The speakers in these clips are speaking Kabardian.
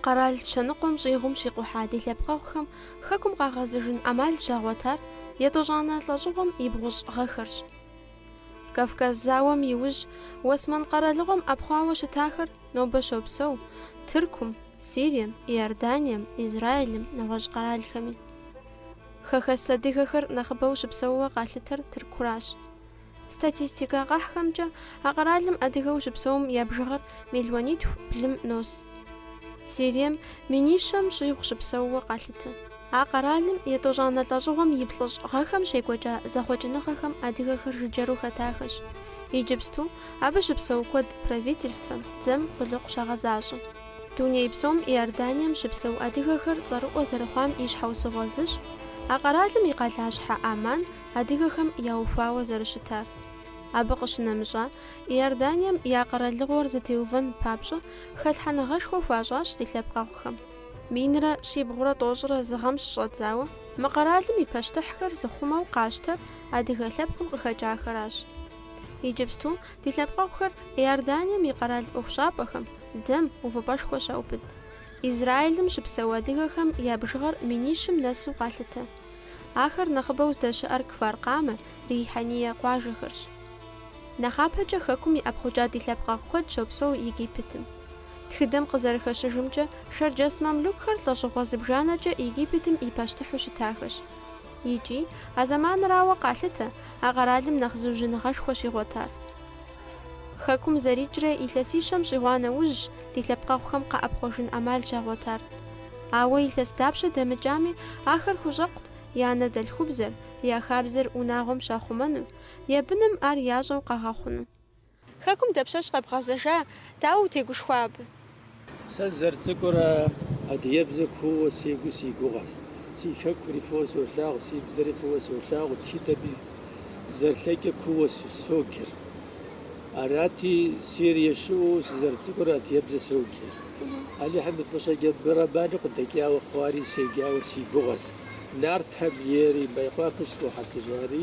Къэрал щэныкъуэм щӏигъум щикъухьа ди лъэпкъэгъухэм Хэкум къагъэзыжын ӏэмал щагъуэтар етӏощӏанэ лӏэщӏыгъуэм и бгъущӏ гъэхэрщ. Кавказ зауэм иужь Уэсмэн къэралыгъуэм ӏэпхъуауэ щытахэр Нобэ щопсэу Тыркум, Сирием, Иорданием, Израилым, нэгъуэщӏ къэралхэми. Хэхэс адыгэхэр нэхъыбэу щыпсэууэ къалъытэр Тыркуращ. Статистикэ къэхьхэмкӏэ а къэралым адыгэу щыпсэум я бжыгъэр мелуанитху блым нос. Сирием минищэм щӏигъу щыпсэууэ къалъытэ. А къэралым етӏощӏанэ лӏэщӏыгъуэм и плӏыщӏ гъэхэм щекӏуэкӏа зэхъуэкӏыныгъэхэм адыгэхэр жыджэру хэтахэщ. Иджыпсту абы щыпсэу куэд правительствэм, дзэм, къулыкъу щагъэзащӏэ. Дуней псом Иорданием щыпсэу адыгэхэр цӏэрыӏуэ зэрыхъуам и щхьэусыгъуэ зыщ а къэралым и къалащхьэ Амман адыгэхэм яухуауэ зэрыщытар. Абы къыщынэмыщӏа, Иорданием я къэралыгъуэр зэтеувэн папщӏэ, хэлъхьэныгъэшхуэ хуащӏащ ди лъэпкъэгъухэм. Минрэ щибгъурэ тӏощӏрэ зы гъэм щыщӏэдзауэ мы къэралым и пащтыхьхэр зыхъумэу къащтэр адыгэ лъэпкъым къыхэкӏахэращ. Иджыпсту ди лъэпкъэгъухэр Иорданием и къэрал ӏуэхущӏапӏэхэм, дзэм, увыпӏэшхуэ щаубыд. Израилым щыпсэу адыгэхэм я бжыгъэр минищым нэсу къалъытэ. Ахэр нэхъыбэу здэщыӏэр Кфар-Къамэ, Рихьэние къуажэхэрщ. Нэхъапэкӏэ хэкум иӏэпхъукӏа ди лъэпкъэгъу куэд щопсэу Египетым. Тхыдэм къызэрыхэщыжымкӏэ, шэрджэс мамлюкхэр лӏэщӏыгъуэ зыбжанэкӏэ Египетым и пащтыхьу щытахэщ. Икӏи, а зэманрауэ къалъытэ, а къэралым нэхъ зыужьыныгъэшхуэ щигъуэтар. Хэкум зэрикӏрэ илъэсищэм щӏигъуа нэужьщ ди лъэпкъэгъухэм къэӏэпхъуэжын ӏэмал щагъуэтар. Ауэ илъэс дапщэ дэмыкӏами, ахэр хущӏэкъут я анэдэлъхубзэр, я хабзэр унагъуэм щахъумэну, я быным ар ящӏэу къагъэхъуну. Хэкум дапщэщ къэбгъэзэжа, дауэ утегушхуа абы? Сэ сызэрыцӏыкӏурэ адыгэбзэ куууэ сегу си гугъэщ. Си хэкури фӏыуэ солъагъу, си бзэри фӏыуэ солъагъу, тхыдэми зэрылъэкӏэ куууэ соджэр. Арати, Сирие щыӏэу сызэрыцӏыкӏурэ адыгэбзэ соджэ. Алыхьым и фӏыщӏэкӏэ абы роману къыдэкӏауэ хъуари седжауэ си гугъэщ. Нартхэм ери Мейкъуапэ сыхуэхьэсыжари.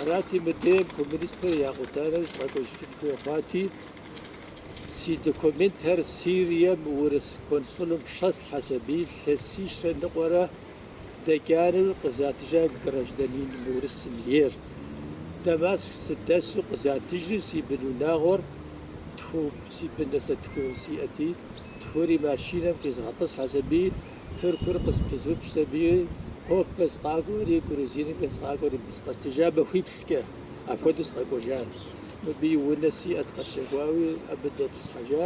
Арати, мыдеем коммунистыр якъута нэужь сыкъэкӏуэжын хуей хъуати, си документхэр Сирием урыс консулым щӏэслъхьэс аби илъэсищрэ ныкъуэрэ дэкӏа нэужь къызатыжа гражданин урысым ейр. Дамаск сыдэсу къызатыжу си бынунагъуэр тху, си быну сэ тху сиӏэти, тхури машинэм къизгъэтӏысхьэс аби Тыркур къызэпызупщӏс аби, Хопэ сыкъакӏуэри, Грузинымкӏэ сыкъакӏуэри, бы сыкъэсыжа махуиплӏкӏэ, апхуэдэу сыкъэкӏуэжа. Мыбыи унэ сиӏэт къэсщэхуауи, абы дэтӏысхьэжа.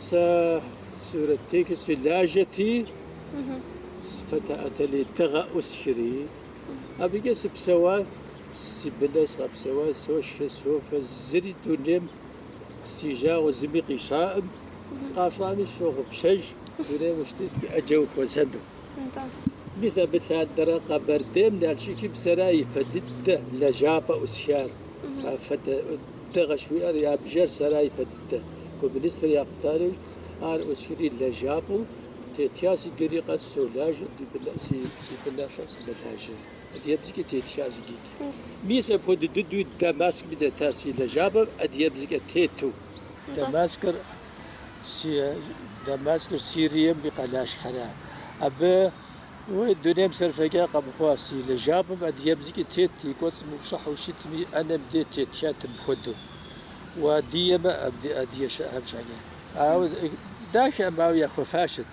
Сэ сурэттехыу сылажьэти, фотоателье Дыгъэ ӏусхри, абыкӏэ сыпсэуа, си быныр сыкъэпсэуа, сошхэ, софэ, зыри дунейм Си жагъуэ зыми къищӏаӏым, къащӏами сщогъупщэж, дунейм ущытетми ӏэджэ ухуэзэну. Нтӏэ. Мис абы лъандэрэ Къэбэрдейм Налшыкым сэра ипэ дыдэ лэжьапӏэ ӏусхар, афэдэ дэ къыщхуиӏэр, я бжэр сэра ипэ дыдэ. Коммунистыр якъута нэужь, ар ӏусхри лэжьапӏэу тета, иджыри къэс солажьэ, си бын щӏэс, мэлажьэри. Адыгэбзэкӏэ тетха зы дыдэ. Мис апхуэдэ дыдэуи Дамаскми дэтащ си лэжьапӏэм адыгэбзэкӏэ тету. Дамаскыр си Дамаскыр Сирием и къалащхьэра? Абы уи дунейм сэр фӏэкӏа къэмыхъуа си лэжьапӏэм адыгэбзэкӏэ тет и кӏуэцӏым ущӏыхьэу щытми и ӏэнэм де тетхат мыпхуэдэу. Уадыгэмэ адыгэбзэкӏэ псалъэ. Ауэ дахэӏым, ауэ яхуэфащэт.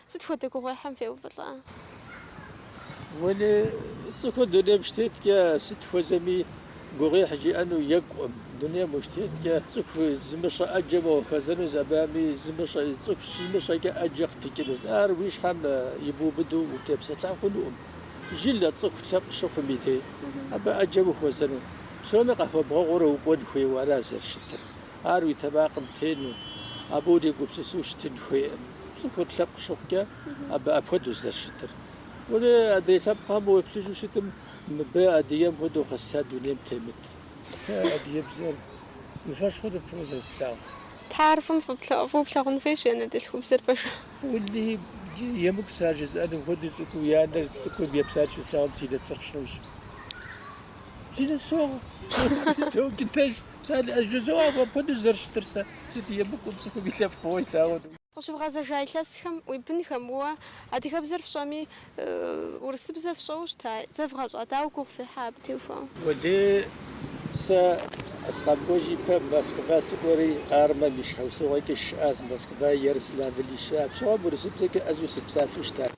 Сыт хуэдэ гугъуехьым феувэлӏа? Уэли, цӏыхур дунейм щытеткӏэ, сыт хуэзэми гугъуехь жиӏэну екӏуӏым. Дунейм ущытеткӏэ, цӏыху зымыщӏэ ӏэджэм ухуэзэнущ, абыхэми зымыщӏэ, цӏыху щимыщӏэкӏэ ӏэджэ къыпыкӏынущ. Ар уи щхьэм ибубыду утепсэлъа хъунукъым. Жылэ, цӏыху лъэпкъ щыхъум и дей, абы ӏэджэ ухуэзэну. Псоми къахуэбгъэгъуурэ укӏуэн хуейуэ ара зэрыщытыр. Ар уи тэмакъым тену, абы урегупсысу щытын хуейкъым. Цӏыхур лъэпкъ щыхъукӏэ, абы апхуэдэущ зэрыщытыр. Уэри адрей лъэпкъхэм уеплъыжу щытым, мыбы адыгэм хуэдэу къэсса дунейм темыт. Сэ адыгэбзэр уи фэшхуэ фӏыуэ зэрыслъагъур. Тарфым фӏыуэ плъагъун хуейщ анэдэлъхубзэр пэжу. Уэлэхьи, емыкӏу сэ ар жызыӏэнум хуэдэу цӏыкӏуу я нэхъ цӏыкӏум еплъар щыслъагъум си нэпсыр нэужь. Си нэ согъ, согъ дыдэжь. Псалъэу жызоӏэ апхуэдэу зэрыщытыр сэ сыт емыкӏуу цӏыхум и лъэпкъ фӏыуэ илъагъур. Къыщывгъэзэжа илъэсхэм уи бынхэм уэ адыгэбзэр фщӏэми, урысыбзэр фщӏэуэ щыта? Зэвгъэщӏа? Дауэ гугъу фехьа абы теухуауэ? Уэлий, сэ сыкъэкӏуэжын ипэ Москва сыкӏуэри, армэм и щхьэусыгъуэкӏэ сыщыӏащ Москва, Ярославль сыщыӏа. Псом урысыбзэкӏэ ӏэзэу сыпсалъэу щытащ.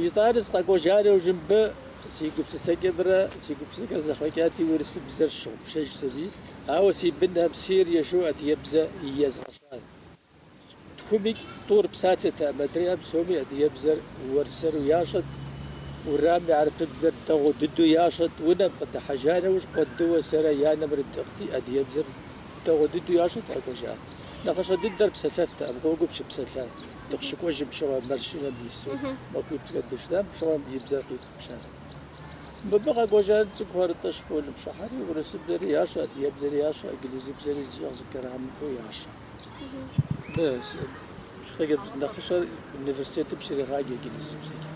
Итӏанэ сыкъэкӏуэжари аужьым бы. Си гупсысэкӏэмрэ си гупсысэкӏэ зэхъуэкӏати, урысыбзэр сщыгъупщэжат сэри, ауэ си бынхэм сыерыщу адыгэбзэ езгъэщӏат. Тхуми тӏур псалъэтэкъым, адрейхэр псоми адыгэбзэр уэрсэру ящӏэт, уэрамми хьэрыпыбзэр дэгъуэ дыдэу ящӏэт. Унэм къыдыхьэжа нэужь, Къуэдыуэ сэрэ я анэмрэ тӏыгъти, адыгэбзэр дэгъуэ дыдэу ящӏэт, къэкӏуэжат. Нэхъыщхьэ дыдэр псэлъэфтэкъым, гъуэгум щыпсэлъат. Дыкъыщыкӏуэжым пщыгъуэ машинэм дису махуитӏкӏэ дыщытам пщыгъуэм и бзэр къиутӏыпщащ. Мыбы къэкӏуэжар цӏыкӏухэр, нтӏэ, школым щӏыхьэри, урысыбзэри ящӏэ, адыгэбзэри ящӏэ, инглызыбзэри зыщӏэ зы граммэхэу ящӏэ. Хъыджэбз нэхъыщӏэр университетым щрегъаджэ инглызыбзэкӏэ.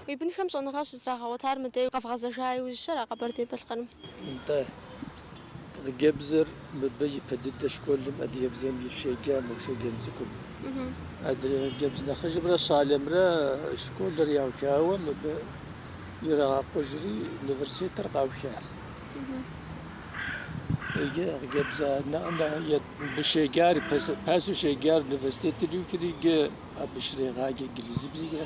Уи бынхэм щӏэныгъэ щызрагъэгъуэтар мыдей къэвгъэзэжа иужькӏэра Къэбэрдей-Балъкъэрым? Нтӏэ. Хъыджэбзыр мыбы ипэ дыдэ школым адыгэбзэм и щеджам ущеджэн цӏыкӏум. Адрей хъыджэбз нэхъыжьымрэ щӏалэмрэ школыр яухауэ мыбы ирагъэкъужри университетыр къаухащ. Иджы хъыджэбзу мыбы щеджар, пасэу щеджар университетыр иухри иджы абы щрегъаджэ инглызыбзэкӏэ.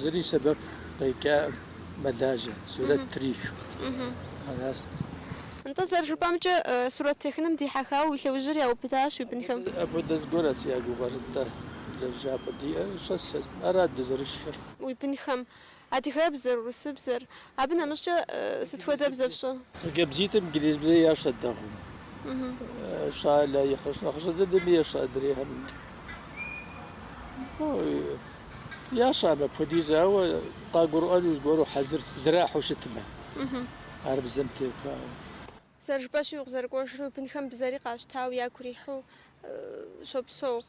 зыри сэбэп къекӏаӏым, мэлажьэ, сурэт трех. Аращ. Нтӏэ, зэрыжыпӏэмкӏэ, сурэт техыным дихьэхауэ уи лъэужьыр яубыдащ уи бынхэм. Апхуэдэ зыгуэрат си гугъэр, нтӏэ, лэжьапӏэ диӏэр щэс, ара дызэрышхыр. Уи бынхэм. Адыгэбзэр, урысыбзэр. Абы нэмыщӏкӏэ сыт хуэдэ бзэ фщӏэ? Хъыджэбзитӏым инглизыбзэ ящӏэ дэгъуэу, щӏалэ нэхъыщӏ нэхъыщӏэ дыдэми ещӏэ, адрейхэм ящӏэӏым апхуэдизу, ауэ къагурыӏуэну зыгуэру хьэзыр зэрахьу щытмэ, ар бзэм техуауэ. Зэрыжыпӏэщи, укъызэрыкӏуэжрэ, бынхэм бзэри къащтауэ, ягу ирихьу щопсэу.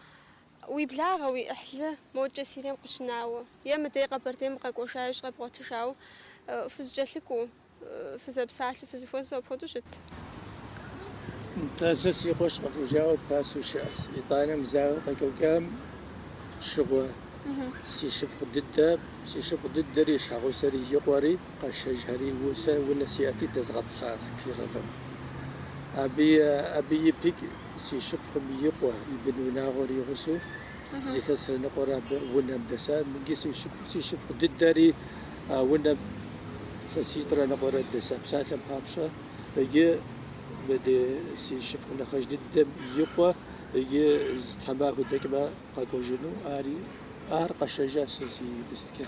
Уи благъэ, уи ӏыхьлы, мокӏэ Сирием къыщынауэ, е мыдей Къэбэрдейм укъэкӏуэжа иужь къэбгъуэтыжауэ, фызыкӏэлъыкӏуэу, фызэпсалъэу, фызыхуэзэу апхуэдэу щыт. Нтӏэ, сэ си къуэш къэкӏуэжауэ пасэу щыӏэщ. Итӏанэм зауэ къекӏуэкӏам щыгъуэ, си шыпхъу дыдэ, си шыпхъу дыдэри, и щхьэгъусэри и къуэри. Къэсшэжхэри, Сэ унэ сиӏэти, дэзгъэтӏысхьащ Кировым. Абы ипэкӏэ си шыпхъум и къуэ, и бын унагъуэр и гъусэу, зы илъэсрэ ныкъуэрэ унэм дэса. Абыгьи си шыпхъу дыдэри а унэм илъэситӏрэ ныкъуэрэ дэса. А псалъэм папщӏэ, иджы мыдей си шыпхъу нэхъыжь дыдэм и къуэ иджы зы тхьэмахуэ дэкӏмэ, къэкӏуэжыну ари. Ар къэсшэжа, сэ си быстыкӏэ.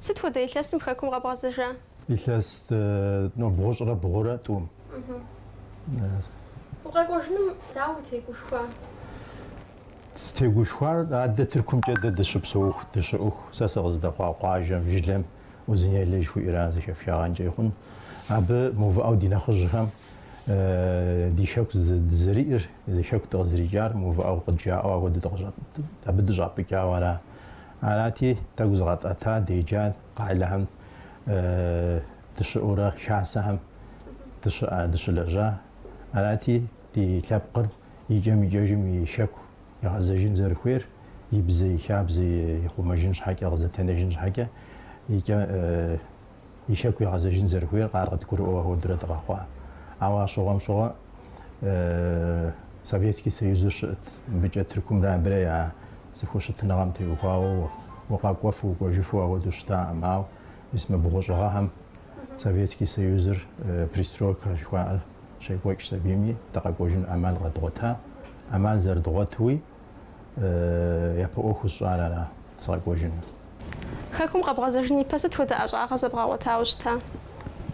Сыт хуэдэ илъэсым хэкум къэбгъэзэжа? Илъэс бгъущӏрэ бгъурэ тӏум. Укъэкӏуэжыным дауэ утегушхуа? Сытегушхуар, адэ Тыркумкӏэ дэ дыщыпсэуху, дыщыӏэху, сэ сыкъыздэхъуа къуажэм, жылэм Узынелэ жыхуиӏэра зэхэфхагъэнкӏэ ихъун. Абы мыувыӏэу ди нэхъыжьхэм ди хэку дызэриӏэр, Зы хэку дыкъызэрикӏар мыувыӏэу къыджаӏэу апхуэдэу дыкъыщӏэт, абы дыщӏапӏыкӏауэ ара. Арати, тӏэкӏу зыкъэтӏэта, деджа къалэхэм дыщыӏэурэ хасэхэм дыщыӏэ, дыщылэжьа. Арати, ди лъэпкъыр икӏэм-икӏэжым и хэку игъэзэжын зэрыхуейр, и бзэ, и хабзэ ихъумэжын щхьэкӏэ, къызэтенэжын щхьэкӏэ, икӏэ. и хэку ягъэзэжын зэрыхуейр къар къыдгурыӏуэу ахуэдурэ дыкъэхъуа. Ауэ а щыгъуэм щыгъуэ Советский Союзыр щыӏэт, мыбыкӏэ Тыркумрэ абырэ я зэхущытыныгъэм теухуауэ укъэкӏуэфу, укӏуэжыфу ахуэдэу щытаӏым. Ауэ мис мы бгъущӏ гъэхэм Советский Союзыр, перестройкэ жыхуаӏэр щекӏуэкӏ сабийми, дыкъэкӏуэжын ӏэмал къэдгъуэта. ӏэмал зэрыдгъуэтуи, япэ ӏуэху сщӏар ара сыкъэкӏуэжыну. Хэкум къэбгъэзэжын ипэ сыт хуэдэ ӏэщӏагъэ зэбгъэгъуэтауэ щыта?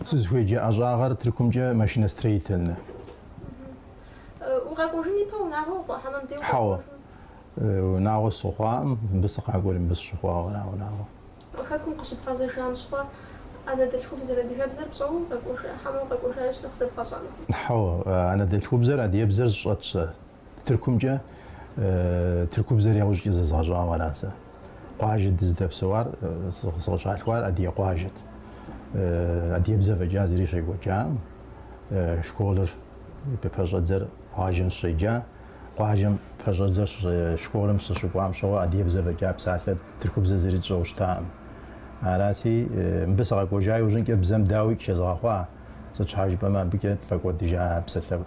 Сызыхуеджэ ӏэщӏагъэр Тыркумкӏэ машиностроительнэ. Укъэкӏуэжын ипэ унагъуэ ухъуа? Хьэмэ мыбдей укъэкӏуэжу? Хьэуэ, унагъуэ сыхъуаӏым, мыбы сыкъакӏуэри мыбы сыщыхъуауэ ара унагъуэ. Хэкум къыщыбгъэзэжам щыгъуэ анэдэлъхубзэр, адыгэбзэр пщӏэуэ укъэкӏуэжа? Хьэмэ укъэкӏуэжа иужь нэхъ зэбгъэщӏа нэхъыфӏ? Хьэуэ, анэдэлъхубзэр, адыебзэр сщӏэт сэ, Тыркумкӏэ тыркубзэр яужькӏэ зэзгъэщӏауэ ара сэ. Къуажэ дыздэпсэуар, сыкъыщалъхуар Адыгэ къуажэт. Адыгэбзэ фӏэкӏа зыри щекӏуэкӏам, школыр пэщӏэдзэр къуажэм сыщеджа, къуажэм пэщӏэдзэр школым сыщыкӏуам щыгъуэ адыгэбзэ фӏэкӏа псалъэ тыркубзэ зыри тщӏэу щытаӏым. Арати, мыбы сыкъэкӏуэжа иужьынкӏэ бзэм дауи къыхезгъэхъуа, сыт щхьэ жыпӏэмэ абыкӏэ тфӏэкӏуэдыжа псалъэ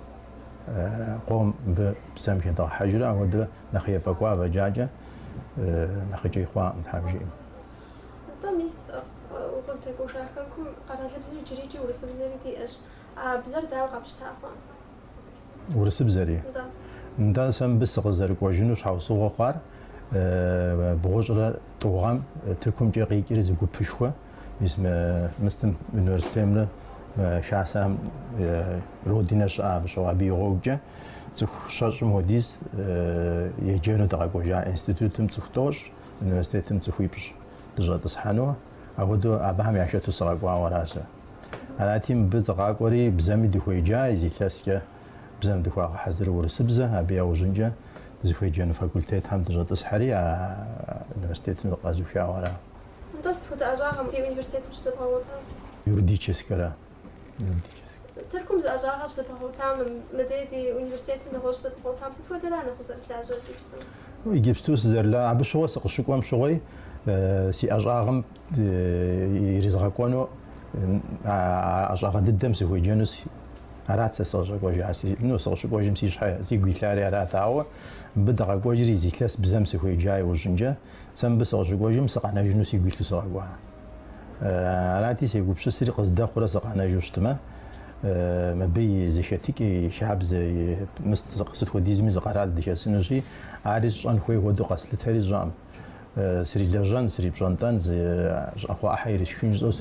Къом мыбы бзэм хедгъэхьэжрэ ахуэдурэ нэхъ ефӏэкӏуа фӏэкӏакӏэ нэхъыкӏэ ихъуаӏым, тхьэм жиӏэм. Атӏэ, мис, укъыздэкӏуэжа хэкум къэралыбзэр иджыри икӏи урысыбзэри диӏэщ. А бзэр дауэ къэпщта хъуа? Урысыбзэри? Нтӏэ. Нтӏэ, сэ мыбы сыкъызэрыкӏуэжыну щхьэусыгъуэ хъуар бгъущӏрэ тӏу гъэм Тыркумкӏэ къикӏри зы гупышхуэ. Мис мы мыстым университетымрэ хасэхэм родинэ щыӏа щыгъуэ абы и гъуэгукӏэ цӏыху щэщӏым хуэдиз еджэну дыкъэкӏуэжа институтым цӏыху тӏощӏ, университетым цӏыхуипщӏ дыщӏэтӏысхьэну, апхуэдэу абыхэм яхэту сыкъэкӏуауэ ара сэ. Арати, мыбы сыкъакӏуэри бзэми дыхуеджа, зы илъэскӏэ бзэм дыхуагъэхьэзыру урысыбзэ, абы яужьынкӏэ дызыхуеджэну факультетхэм дыщӏэтӏысхьэри а университетым къэзухауэ ара. Нтӏэ, сыт хуэдэ ӏэщӏагъэм ди университетым щызэбгъэгъуэта? Юридическэра. Тыркум зы ӏэщӏагъэ щызэбгъэгъуэтам, мыдей ди университетым нэгъуэщӏ щызэбгъэгъуэтам сыт хуэдэра нэхъ узэрылажьэр иджыпсту? Иджыпсту сызэрыла, абы щыгъуэ сыкъыщыкӏуэм щыгъуи си ӏэщӏагъэм иризгъэкӏуэну, а ӏэщӏагъэ дыдэм сыхуеджэну си, арат сэ сыкъыщӏэкӏуэжар, си, ну, сыкъыщыкӏуэжым си щхьэ, сигу илъари арат, ауэ мыбы дыкъэкӏуэжри зы илъэс бзэм сыхуеджа иужьынкӏэ, Сэ мыбы сыкъыщыкӏуэжым, сыкъэнэжыну сигу илъу сыкъэкӏуа. Арати, сегупщысри, къыздэхъурэ сыкъэнэжу щытмэ, мыбы и зэхэтыкӏэ, и хабзэ, и мыст сыт хуэдизми зы къэрал дыхэсынущи, ари сщӏэн хуей хуэдэу къэслъытэри сщӏэкъым. Срилэжьэн, срипщӏэнтӏэн, зы щӏакхъуэ ӏыхьэ ирисшхын жысӏэу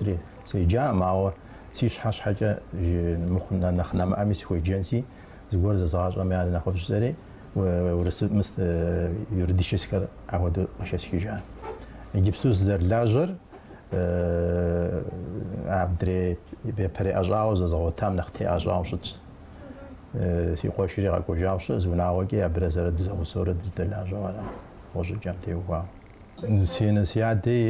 среджакъым, ауэ си щхьэ щхьэкӏэ мыхъу нэхъ нэмыӏэми сыхуеджэнси, зыгуэр зэзгъащӏэми ар нэхъыфӏщ жысӏэри. Урысыб, мыст юридическэр апхуэдэу къыхэсхыжа. Иджыпсту сызэрылажьэр адрей япэрей ӏэщӏагъэу зэзгъэгъуэтам нэхъ тегъэщӏауэ щытщ. Си къуэшри къэкӏуэжауэ щыӏэ, зы унагъуэкӏи абырэ сэрэ дызэгъусэурэ дыздэлажьэу ара, гъущӏыкӏэм теухуауэ. Си анэ си адэи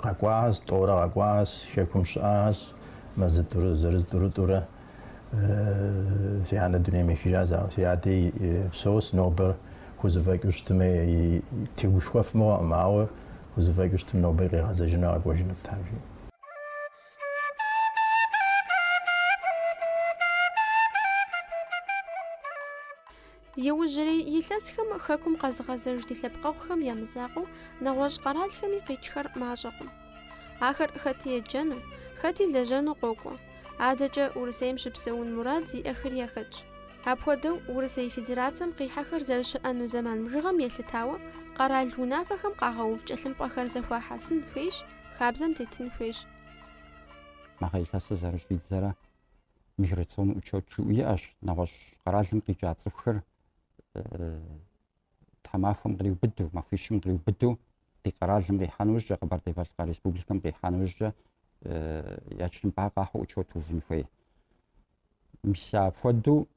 къэкӏуащ, тӏэурэ къэкӏуащ, Хэкум щыӏащ, мазитӏурэ, зырыз тӏурытӏурэ. Си анэ дунейм ехыжащ, ауэ, си адэи псэущ, нобэр хузэфӏэкӏыу щытымэ, тегушхуэф мыгъуэкъым, ауэ хузэфӏэкӏыу щытым нобэ къигъэзэжыну къэкӏуэжынут, тхьэм жиӏэм. Иужьрей илъэсхэм хэкум къэзыгъэзэж ди лъэпкъэгъухэм я мызакъуэу нэгъуэщӏ къэралхэми къикӏхэр мащӏэкъым. Ахэр хэти еджэну, хэти лэжьэну къокӏуэ. Адэкӏэ Урысейм щыпсэун мурад зиӏэхэр яхэтщ. Апхуэдэу Урысей Федерацэм къихьэхэр зэрыщыӏэну зэман бжыгъэм елъытауэ къэрал унафэхэм къагъэув тхылъымпӏэхэр зэхуахьэсын хуейщ, хабзэм тетын хуейщ. Мы гъэ илъэсыр зэрыщӏидзэрэ миграционный учет жиӏэу иӏэщ, нэгъуэщӏ къэралым къикӏа цӏыхухэр тхьэмахуэм къриубыдэу, махуищым къриубыдэу ди къэралым къихьэн ужькӏэ, Къэбэрдей-Балъкъэр Республикэм къихьэн ужькӏэ я тхылъымпӏэ къахьу учет увын хуей. Мис апхуэдэу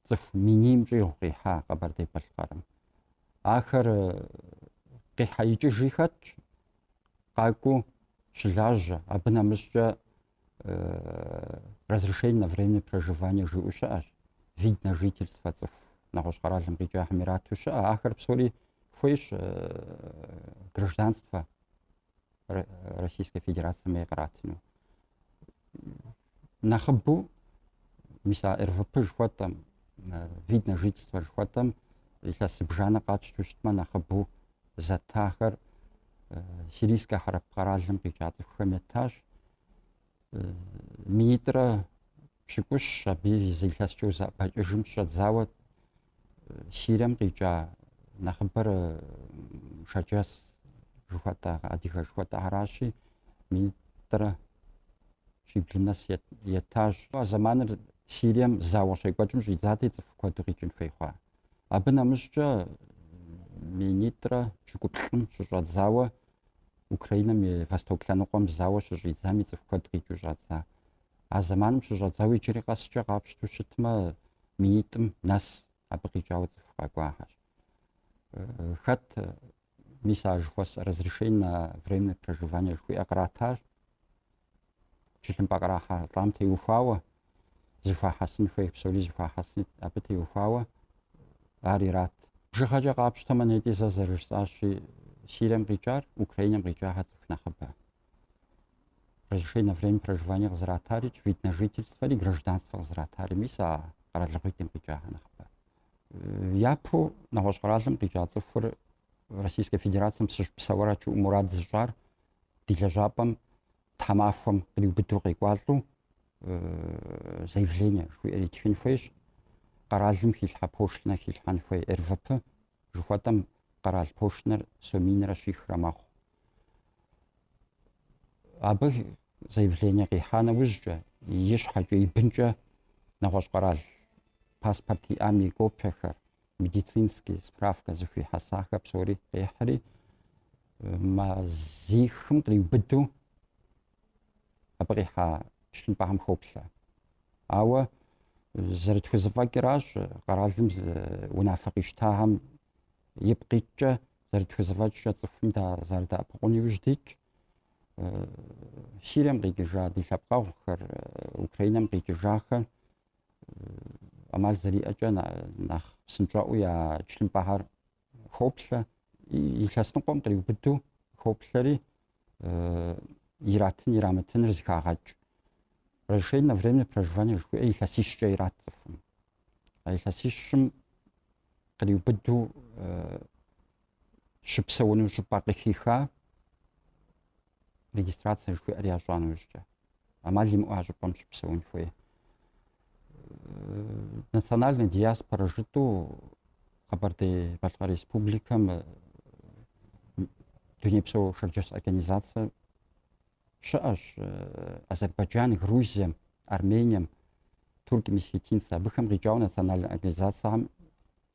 цӏыху минийм щӏигъу къихьа Къэбэрдей-Балъкъэрым. Ахэр къихьэ икӏыжи хэтщ, къакӏуэу щылажьэ, абы нэмыщӏкӏэ разрешение на временное проживание жиӏэу щыӏэщ, вид на жительство цӏыху нэгъуэщӏ къэралым къикӏахэм ирату щыӏэ, ахэр псори хуейщ гражданство Российской Федерацием ей къратыну. Нэхъыбу мис а РВП жыхуэтӏэм, вид на жительство жыхуэтӏэм илъэс зыбжанэ къатщту щытмэ нэхъыбу зэттахэр Сирийскэ хьэрэп къэралым къикӏа цӏыхухэм еттащ. Минитӏрэ пщыкӏущ абы зы илъэскӏэ узэӏэбэкӏыжым щыщӏэдзауэ Сирием къикӏа нэхъыбэр шэрджэс жыхуэтӏэ адыгэ жыхуэтӏэхэращи минитӏрэ щиблым нэс еттащ. А зэманыр Сирием зауэ щекӏуэкӏым щӏидзати цӏыху куэду къикӏын хуей хъуа. Абы нэмыщӏкӏэ Минитӏрэ пщыкӏуплӏым щыщӏэдзауэ Украинэм и Восток лъэныкъуэм зауэ щыщӏидзами цӏыху куэд къикӏыу щӏадза. А зэманым щыщӏэдзауэ иджыри къэскӏэ къапщту щытмэ, минитӏым нэс абы къикӏауэ цӏыху къэкӏуахэщ. Хэт Мис а жыхуэсӏэ разрешение на временное проживание жыхуиӏэ къратащ. Тхылъымпӏэ кърахьэлӏам теухуауэ, зыхуахьэсын хуей псори зыхуахьэсыни абы теухуауэ ар ират. Бжыгъэкӏэ къапщтэмэ, нетӏи зэ зэрыжысӏащи, Сирием къикӏар, Украинэм къикӏахэр цӏыху нэхъыбэ. Разрешение на временное проживание къызратари, вид на жительствэри, гражданствэ къызратари мис а къэралыгъуитӏым къикӏахэр нэхъыбэ. Япэу нэгъуэщӏ къэралым къикӏа цӏыхур Российскэ Федерацием сыщыпсэуарэт жиӏэу мурад зыщӏар ди лэжьапӏэм тхьэмахуэм къриубыдэу къекӏуалӏэу заявление жыхуиӏэр итхын хуейщ. Къэралым хилъхьэ пошлинэ хилъхьэн хуей РВП жыхуэтӏэм къэрал пошлинэр соминрэ щихрэ мэхъу. абы заявление къихьа нэужькӏэ, и щхьэкӏэ, и бынкӏэ нэгъуэщӏ къэрал паспорт иӏам и копиехэр, медицинский справкэ зыхуихьэсахэр псори къихьри, мазихым къриубыду абы къихьа тхылъымпӏэхэм хоплъэ. Ауэ зэрытхузэфӏэкӏыращ къэралым унафэ къищтахэм ипкъ иткӏэ зэрытхузэфӏэкӏкӏэ цӏыхум зэрыдэӏэпыкъун иужь дитщ. Сирием къикӏыжа ди лъэпкъэгъухэр, Украинэм къикӏыжахэр ӏэмал зэриӏэкӏэ нэхъ псынщӏэӏуу я тхылъымпӏэхэр хоплъэ, илъэс ныкъуэм къриубыдэу хоплъэри иратын ирамытыныр зэхагъэкӏ. Разрешение на временное проживание жыхуиӏэ илъэсищкӏэ ират цӏыхум. а илъэсищым къриубыдэу щыпсэуну щӏыпӏэ къыхиха регистрация жыхуиӏэр ящӏа нэужькӏэ амал имыӏэу а щӏыпӏэм щыпсэун хуей национальная диаспора жытӏэу Къэбэрдей-Балъкъэр Республикэм дунейпсо шэрджэс организацэ щыӏэщ Азербайджан, Грузием, Армением турки-месхетинцы, абыхэм къикӏауэ национальнэ организацэхэм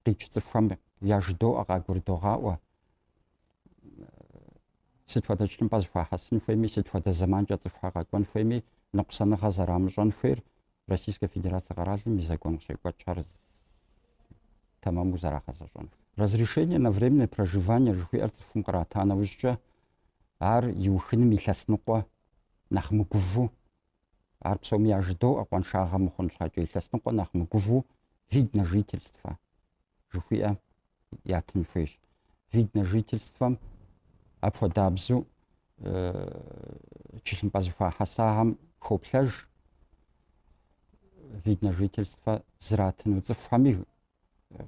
къикӏ цӏыхухэм яжыдоӏэ, къагурыдогъаӏуэ, сыт хуэдэ тхылъымпӏэ зыхуахьэсын хуейми, сыт хуэдэ зэманкӏэ цӏыхухэр къэкӏуэн хуейми, ныкъусаныгъэ зэрамыщӏэн хуейр Российскэ Федерацэ къэралым и закон къыщекӏуэкӏхэр тэмэму зэрагъэзэщӏэн хуейр. Разрешение на временное проживание жыхуиӏэр цӏыхум кърата нэужькӏэ, ар иухыным илъэс ныкъуэ нэхъ мыгувэу Ар псоми яжыдоӏэ, къуаншагъэ мыхъун щхьэкӏэ илъэс ныкъуэ нэхъ мыгувэу вид на жительствэ жыхуиӏэ ятын хуейщ. Вид на жительствэм апхуэдабзэу тхылъымпӏэ зыхуахьэсахэм хоплъэж вид на жительствэ зратыну цӏыхухэми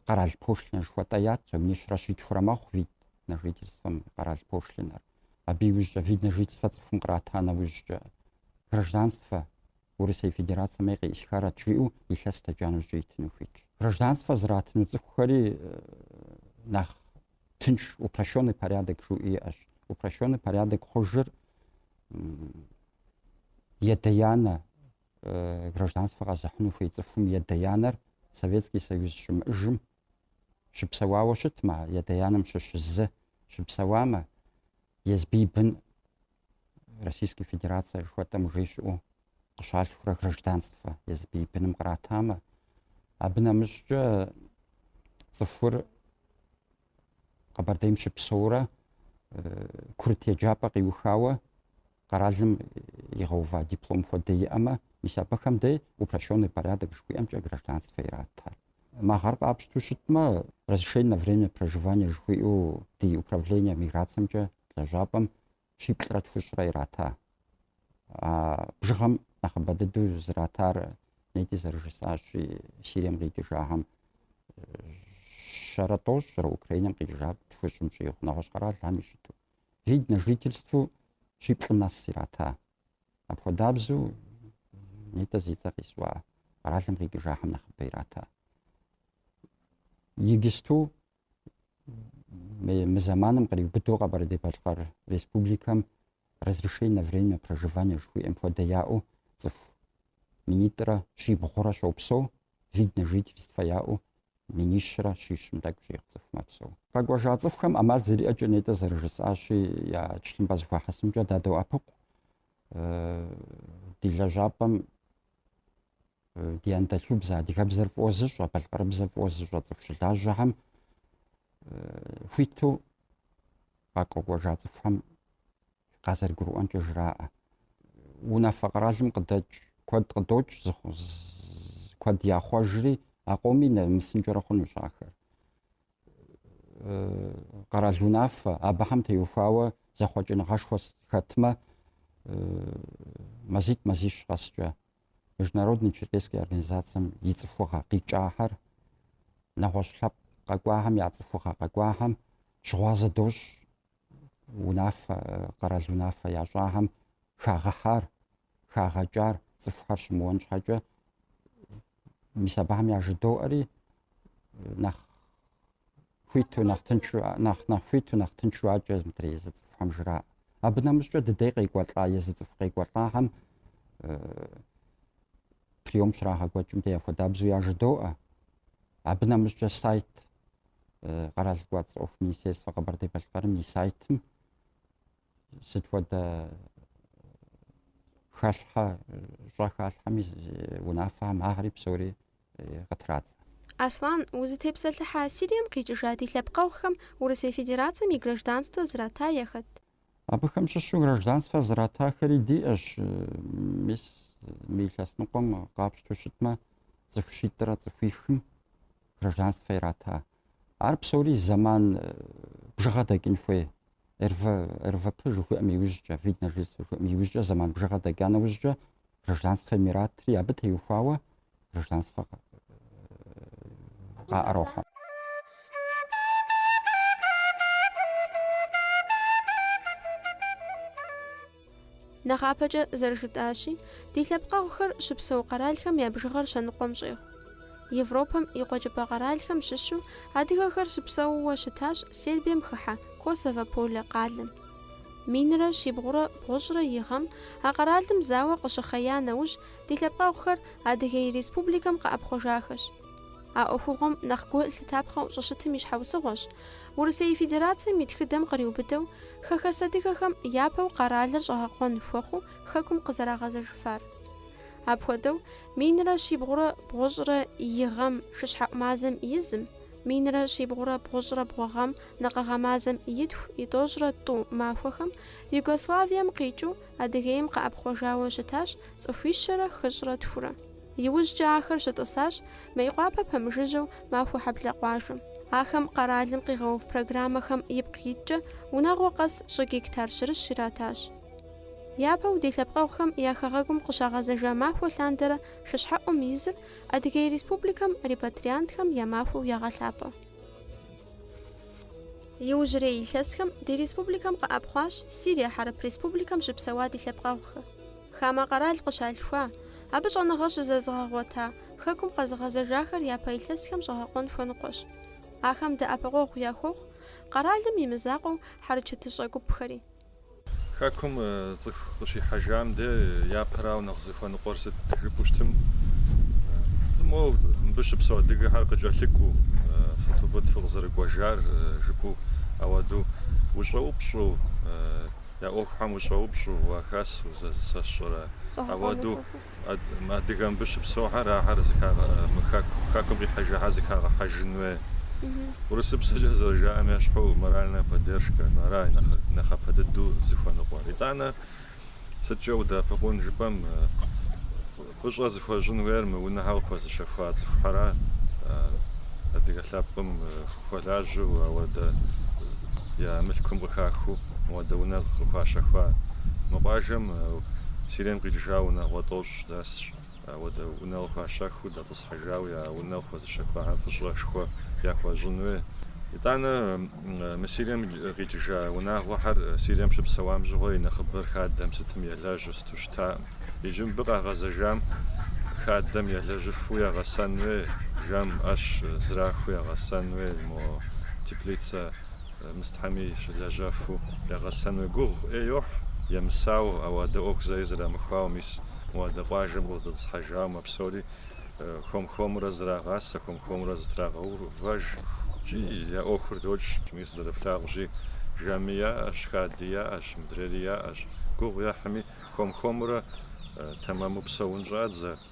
къэрал пошлинэ жыхуэтӏэ ят, минищрэ щитхурэ мэхъу вид на жительствэм къэрал пошлинэр. Абы иужькӏэ вид на жительствэ цӏыхум кърата нэужькӏэ гражданствэ Урысей Федерацэм ей къеӏысхарэт жиӏэу илъэс дэкӏа нэужькӏэ итыну хуитщ. Гражданствэ зратыну цӏыхухэри нэхъ тынш упрощенный порядок жыхуиӏэ иӏэщ. Упрощенный порядок хъужыр и адэ и анэ гражданствэ къэзыхьыну хуей цӏыхум и адэ и анэр Советский Союз щымыӏэжым щыпсэуауэ щытмэ, и адэ и анэм щыщ зы щыпсэуамэ, езым и бын Российской Федерацэ жыхуэтӏэм уже щыӏэу къыщалъхурэ гражданствэ езым и быным къратамэ, абы нэмыщӏкӏэ цӏыхур Къэбэрдейм щыпсэурэ курыт еджапӏэ къиухауэ Къэралым игъэува диплом хуэдэ иӏэмэ, мис абыхэм дей упрощенный порядок жыхуиӏэмкӏэ гражданствэ ирата. Мы гъэр къапщту щытмэ, разрешение на время проживания жыхуиӏэу ди управление миграциемкӏэ лэжьапӏэм щиплӏрэ тхущӏрэ ирата. А бжыгъэм нэхъыбэ дыдэу зратар нетӏэ зэрыжысӏащи Сирием къикӏыжахэм щэрэ тӏощӏрэ Украинэм къикӏыжа тхущӏым щӏигъу нэгъуэщӏ къэралхэми щыту. вид на жительству щиплӏым нэс ирата. Апхуэдабзу нетӏэ зи цӏэ къисӏуа къэралым къикӏыжахэм нэхъыбэ ирата. Игисту мы зэманым къриубыдэу Къэбэрдей-Балъкъэр республикэм разрешение на время проживания жыхуиӏэм хуэдэ яӏэу цӏыху минитӏрэ щибгъурэ щопсэу вид на жительство яӏэу минищрэ щищым тӏэкӏу щӏигъу цӏыху мэпсэу. Къэкӏуэжа цӏыхухэм ӏэмал зэриӏэкӏэ нетӏэ зэрыжысӏащи, я тхылъымпӏэ зэхуахьэсынкӏэ дадоӏэпыкъу ди лэжьапӏэм ди анэдэлъхубзэ, адыгэбзэр фӏыуэ зыщӏэ, балъкъэрыбзэр фӏыуэ зыщӏэ цӏыху щылажьэхэм хуиту къэкӏуэжа цӏыхухэм къазэрыгурыӏуэнкӏэ жраӏэ. Унафэ къэралым къыдэкӏ куэд къыдокӏ, куэд яхъуэжри, а къомми нэмысынкӏэрэ хъунущ ахэр. Къэрал унафэ, абыхэм теухуауэ зэхъуэкӏыныгъэшхуэ хэтмэ, мазитӏ мазищ къэскӏэ, Международный черкесский организацием и цӏыхугъэ къикӏахэр, нэгъуэщӏ лъэпкъ къэкӏуахэм я цӏыхугъэ къэкӏуахэм щыгъуазэ дощӏ унафэ, къэрал унафэ ящӏахэм хагъэхьар, хагъэкӏар цӏыхухэр щымыуэн щхьэкӏэ мис абыхэм яжыдоӏэри нэхъ хуиту нэхъ хуиту нэхъ тыншу адэкӏэ мыдрей езы цӏыхухэм жраӏэ. Абы нэмыщӏкӏэ ди дей къекӏуэлӏа, езы цӏыху къекӏуэлӏахэм приём щрагъэкӏуэкӏым дей апхуэдабзэу яжыдоӏэ. Абы нэмыщӏкӏэ сайт къэрал кӏуэцӏ ӏуэху министерствэ Къэбэрдей-Балъкъэрым и сайтым сыт хуэдэ хэлъхьэ щӏэ халъхьэми унафэхэм ахэри псори къытрадзэ. Аслан, узытепсэлъыхьа Сирием къикӏыжа ди лъэпкъэгъухэм Урысей Федерацием и гражданствэ зрата яхэт? Абыхэм щыщу гражданствэ зратахэри диӏэщ, мис мы илъэс ныкъуэм къапщтэу щытмэ, цӏыху щитӏрэ цӏыхуихым гражданствэ ирата. Ар псори зэман бжыгъэ дэкӏын хуей. РВ, РВП жыхуиӏэм иужькӏэ, вид на жительство жыхуиӏэм иужькӏэ зэман бжыгъэ дэкӏа нэужькӏэ гражданствэ иратри абы теухуауэ гражданствэ къаӏэрохьэ. Нэхъапэкӏэ зэрыжытӏащи, ди лъэпкъэгъухэр щыпсэу къэралхэм я бжыгъэр щэныкъуэм щӏегъу. Европэм и къуэкӏыпӏэ къэралхэм щыщу адыгэхэр щыпсэууэ щытащ Сербием хыхьэ Косово Поле къалэм. Минрэ щибгъурэ бгъущӏрэ и гъэм а къэралым зауэ къыщыхъея нэужь, ди лъэпкъэгъухэр Адыгей Республикэм къэӏэпхъуэжахэщ. А ӏуэхугъуэм нэхъ гу лъытапхъэу щӏыщытым и щхьэусыгъуэщ Урысей Федерацием и тхыдэм къриубыдэу хэхэс адыгэхэм япэу къэралыр щӏэгъэкъуэн хуэхъуу Хэкум къызэрагъэзэжыфар. Апхуэдэу Минрэ щибгъурэ бгъущӏрэ и гъэм шыщхьэӏу мазэм и зым, минрэ щибгъурэ бгъущӏрэ бгъу гъэм накъыгъэ мазэм и тху, и тӏощӏрэ тӏу махуэхэм Югославием къикӏыу Адыгейм къэӏэпхъуэжауэ щытащ цӏыхуищэрэ хыщӏрэ тхурэ. Иужькӏэ ахэр щытӏысащ Мейкъуапэ пэмыжыжьэу Махуэхьэблэ къуажэм. Ахэм къэралым къигъэув программэхэм ипкъ иткӏэ унагъуэ къэс щӏы гектар щырыщ иратащ. Япэу ди лъэпкъэгъухэм я хэгъэгум къыщагъэзэжа махуэ лъандэрэ шыщхьэӏум и зыр Адыгей Республикэм репатриантхэм я махуэу ягъэлъапӏэ. Иужьрей илъэсхэм ди республикэм къэӏэпхъуащ Сирия Хьэрып Республикэм щыпсэуа ди лъэпкъэгъухэр. Хамэ къэрал къыщалъхуа, абы щӏэныгъэ щызэзыгъэгъуэта Хэкум къэзыгъэзэжахэр япэ илъэсхэм щӏэгъэкъуэн хуэныкъуэщ. Ахэм дэӏэпыкъуэгъу яхуохъу къэралым и мызакъуэу хьэрычэтыщӏэ гупхэри. Хэкум цӏыху къыщихьэжам де япэрауэ нэхъ зыхуэныкъуэр сыт жыпӏэу щытым, мо мыбы щыпсэу адыгэхэр къыкӏэлъыкӏуу, сыту фӏыт фыкъызэрыкӏуэжар жыпӏэу, ауэдэу ущӏэупщӏэу, я ӏуэхухэм ущӏэупщӏэу уахэсу, зэ, сэ сщӏэрэ, ауэдэу Адыгэ мыбы щыпсэухэр ахэр хэкум къихьэжыхьэр зыхагъэхьэжын хуей. Урысыпсэкӏэ зэрыжаӏэм ещхьу моральная поддержка ара нэхъапэ дыдэу зыхуэныкъуэр. Итӏанэ сыткӏэ удэӏэпыкъун жыпӏэм, фӏыщӏэ зыхуэщӏын хуейр мы унэхэр къыхуэзыщэхуа цӏыхухьэра адыгэ лъэпкъым хуэлажьэу, ауэдэ я мылъкум къыхахыу мыуэдэ унэ къыхуащэхуа. Мы къуажэм Сирием къикӏыжа унагъуэ тӏощӏ дэсщ. Ауэдэ унэ къыхуащэхуу, дэтӏысхьыжауэ я унэ къыхуэзыщэхуахэр фӏыщӏэшхуэ яхуэщӏын хуей. Итӏанэ мы Сирием къикӏыжа унагъуэхэр Сирием щыпсэуам щыгъуэ и нэхъыбэр хадэм сытым елэжьу сыту щытаӏым. Иджы мыбы къагъэзэжам хадэм елэжьыфу ягъэсэн хуей, жэм ӏэщ зрахыу ягъэсэн хуей мо теплицэ Мыстхьэми щылэжьэфу ягъэсэну гугъу ӏей йохь, емысауэ, ауэдэ ӏуэху зэи зэрамыхуауэ, мис мыуэдэ къуажэм къыдэтӏысхьэжауэ псори хуэм-хуэмурэ зрагъасэ, хуэм-хуэмурэ зытрагъэувэж икӏи я ӏуэхур докӏ. Мис зэрыфлъагъущи, жэми яӏэщ, хади яӏэщ, мыдрейри яӏэщ. Гугъу ехьми, хуэм-хуэмурэ тэмэму псэун щӏадзэ.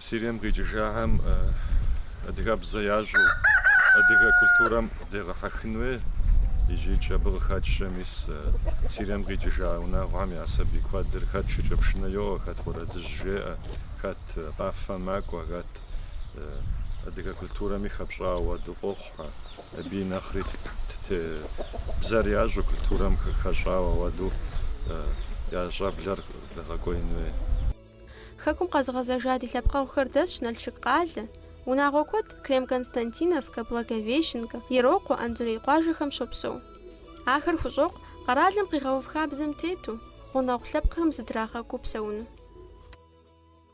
Сирием къикӏыжахэм адыгэбзэ ящӏу адыгэ культурэм дегъэхьэхын хуей икӏи абы къыхэкӏкӏэ мис Сирием къикӏыжа унагъуэхэм я сабий куэдыр хэт шыкӏэпшынэ йоуэ, хэт уэрэдыжь жеӏэ, хэт къафэ макӏуэ, хэт адыгэ культурэми хэпщӏауэ ауэду къохъухэ. Абы нэхъри бзэр ящӏу, культурэм хэщӏауэ ауэду я щӏэблэр дэгъэкӏуеин хуей. Хэкум къэзыгъэзэжа ди лъэпкъэгъухэр дэсщ Налшык къалэ. Унагъуэ куэд Крем-Константиновкэ, Благовещенкэ, Ерокъуэ, Анзорей къуажэхэм щопсэу. Ахэр хущӏокъу къэралым къигъэув хабзэм тету, гъунэгъу лъэпкъхэм зыдрагъэкӏуу псэуну.